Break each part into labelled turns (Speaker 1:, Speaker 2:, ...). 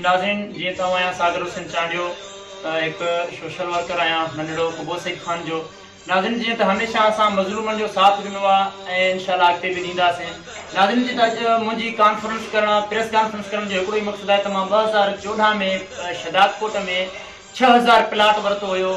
Speaker 1: ناظرين جيئن ته آئون آهيان ساگر حسين چانڊيو هڪ سوشل ورڪر آهيان ننڍڙو قبو سيد خان جو ناظرين جيئن ته هميشه اسان مظلومن جو ساٿ ڏنو آ ۽ انشاءالله اڳتي به ڏينداسين ناظرين جي ته اڄ منهنجي ڪانفرنس ڪرڻ پريس ڪانفرنس ڪرڻ جو هڪڙو ئي مقصد آهي ته مان ٻه هزار چوڏهن ۾ شهداد ڪوٽ ۾ ڇهه هزار پلاٽ ورتو هيو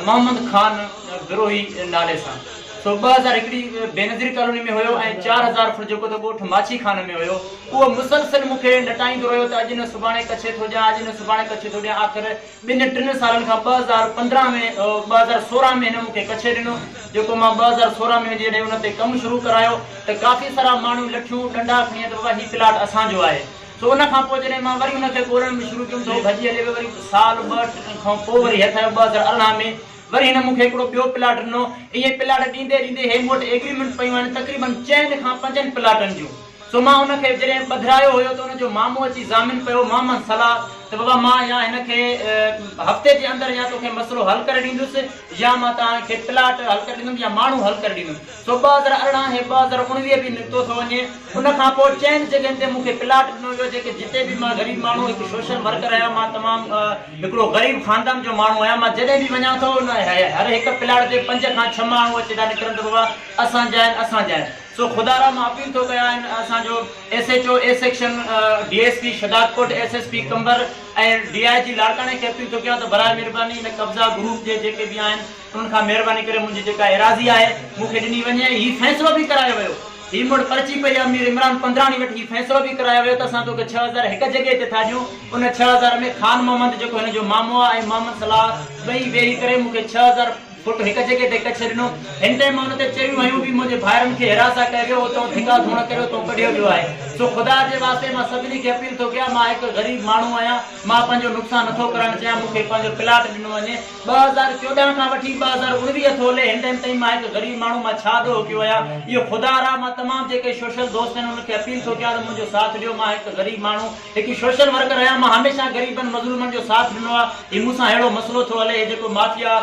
Speaker 1: محمد خان بروهي نالي سان سو ٻه هزار هڪڙي بينظير ڪالوني ۾ هيو ۽ چار هزار فوٽ جيڪو ته ڳوٺ ماڇي خان ۾ هيو اهو مسلسل مون کي نٽائيندو رهيو ته اڄ نه سڀاڻي ڪڇي ٿو ڏيان اڄ نه سڀاڻي ڪڇي ٿو ڏيان آخر ٻن ٽن سالن کان ٻه هزار پندرهن ۾ ٻه هزار سورهن ۾ هن مون کي ڪڇي ڏنو جيڪو مان ٻه هزار سورهن ۾ جڏهن ان تي ڪم شروع ڪرايو ته ڪافي سارا ماڻهو لٺيون ڏنڊا کڻي آيا ته بابا هي پلاٽ اسان جو آهي سو ان کان پوء جڏهن مان وري ان کي ڳولڻ ۾ شروع ڪيم ته هو ڀڄي هلي ويو وري سال ٻه کان پوء وري هيٺ آيو ٻه هزار ارڙهن ۾ وري هن مون کي هڪڙو ٻيو پلاٽ ڏنو ائين پلاٽ ڏيندي ڏيندي هي مون وٽ ايگريمنٽ پيون آهن تقريباً چئن کان پنجن پلاٽن جون سو مان ان کي جڏهن ٻڌرايو هيو ته ان جو مامو اچي ضامن پيو مان مان صلاح ته بابا مان يا هن کي هفتي جي اندر يا توکي مسئلو حل ڪري ڏيندس يا مان توهان کي پلاٽ حل ڪري ڏيندم يا ماڻهو حل ڪري ڏيندم سو ٻه در ارڙهن هي ٻه در اڻويهه به نڪتو ٿو وڃي ان کان پوء چئن جڳهين تي مون کي پلاٽ ڏنو ويو جيڪي جتي به مان غريب ماڻهو هڪ سوشل ورڪر آهيان مان تمام هڪڙو غريب خاندان جو ماڻهو آهيان مان جڏهن به وڃان ٿو ان هر هڪ پلاٽ تي پنج کان ڇهه ماڻهو اچي ٿا نڪرن ته بابا اسان جا آهن اسان جا آهن سو خدا را مان اپيل ٿو ڪيان ان اسان جو S H O A section D S P Shahdadkot S S P Qambar ۽ D I G لاڙڪاڻي کي اپيل ٿو ڪيان ته براء مهرباني ان قبضا گروپ جي جيڪي به آهن ان کان مهرباني ڪري منهنجي جيڪا ايراضي آهي مون کي ڏني وڃي ۽ هي فيصلو به ڪرايو ويو هي مڙ پرچي پئي امير عمران پنڌراڻي وٽ هي فيصلو به ڪرايو ويو ته اسان توکي ڇهه هزار هڪ جڳهه تي ٿا ڏيون ان ڇهه هزار ۾ خان محمد جيڪو هن جو مامو آهي ۽ محمد صلاح ٻئي ويهي ڪري مون کي ڇهه هزار فوٽ هڪ جڳهه تي ڪڇ ڏنو هن ٽيم ان تي چيون هيون به منهنجي ڀائرن کي هراساء ڪيو ويو اتئون ڌڪا ڌوڻ ڪري اتئون ڪڍيو ويو آهي سو خدا جي واسطي مان سڀني کي اپيل ٿو ڪيان مان هڪ غريب ماڻهو آهيان مان پنهنجو نقصان نٿو ڪرائڻ چاهيان مون کي پنهنجو پلاٽ ڏنو وڃي ٻه هزار چوڏهن کان وٺي ٻه هزار اڻويهه ٿولهي هن ٽائيم تائين مان هڪ غريب ماڻهو مان ڇا ڏوهه ڪيو آهيان اهو خدا را مان تمام جيڪي سوشل دوست آهن انهن کي اپيل ٿو ڪيان ته منهنجو ساٿ ڏيو مان هڪ غريب ماڻهو هڪ سوشل ورڪر آهيان مان هميشه غريبن مظلومن جو ساٿ ڏنو آهي هي مون سان ههڙو مسئلو ٿو هلي هي جيڪو مافيا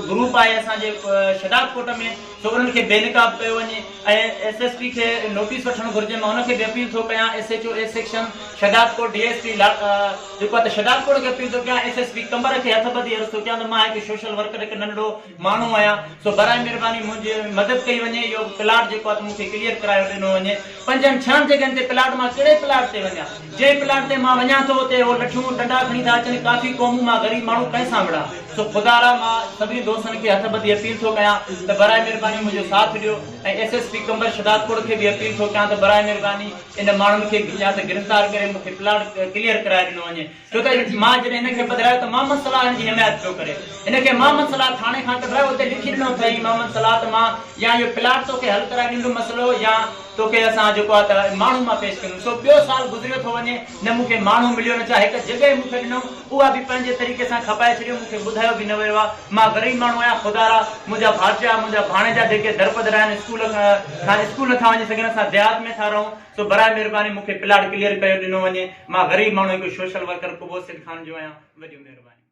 Speaker 1: گروپ آهي اسان جي شهداد ڪوٽ ۾ سو انهن کي بي نقاب ڪيو وڃي ۽ ايس ايس پي کي نوٽيس وٺڻ گهرجي مان ان کي به اپيل ٿو ڪيان S H O A section Shahdadkot D S P جيڪو اتي شٽال ڪوڙ کي پيو ٿو ڪيان ايس ايس پي قمر کي هٿ ٻڌي عرض ٿو ڪيان ته مان هڪ سوشل ورڪر هڪ ننڍڙو ماڻهو آهيان سو براء مهرباني منهنجي مدد ڪئي وڃي اهو پلاٽ جيڪو آهي ته مون کي ڪليئر ڪرايو ڏنو وڃي پنجن ڇهن جڳهن تي پلاٽ مان ڪهڙي پلاٽ تي وڃان جنهن پلاٽ تي مان وڃان ٿو اتي اهو لٺيون ڏنڊا کڻي ٿا اچن ڪافي قومون مان غريب ماڻهو ڪنهن سان وڙهان سو خدا را مان سڀني دوستن کي هٿ ٻڌي اپيل ٿو ڪيان ته براء مهرباني منهنجو ساٿ ڏيو ۽ S S P Qambar Shahdadkot کي به اپيل ٿو ڪيان ته براء مهرباني ان ماڻهن کي به يا ته گرفتار ڪري مون کي پلاٽ ڪليئر ڪرائي ڏنو وڃي ڇو ته مان جڏهن هن کي پڌرايو ته محمد صلاح هن جي حمايت پيو ڪري هن کي محمد صلاح ٿاڻي کان ڪڍرايو اتي لکي ڏنو اٿئي محمد صلاح ته مان يا اهو پلاٽ توکي حل ڪرائي ڏيندم مسئلو يا توکي اسان جيڪو آهي ته ماڻهو مان پيش ڪندم سو ٻيو سال گذريو ٿو وڃي نه مون کي ماڻهو مليو نه ڇا هڪ جڳهه مون کي ڏنو اها به پنهنجي طريقي سان کپائي ڇڏيو، مون کي ٻڌايو به نه ويو آهي. مان غريب ماڻهو آهيان خدارا، منهنجا ڀاٽيا، منهنجا ڀاڻيجا جيڪي درپدر آهن، اسڪول کان اسڪول نٿا وڃي سگهن، اسان ديهات ۾ ٿا رهون، سو برائي مهرباني مون کي پلاٽ ڪليئر ڪيو ڏنو وڃي، مان غريب ماڻهو هڪ سوشل ورڪر قبوس سيد خان جو آهيان، وڏيون مهربانيون.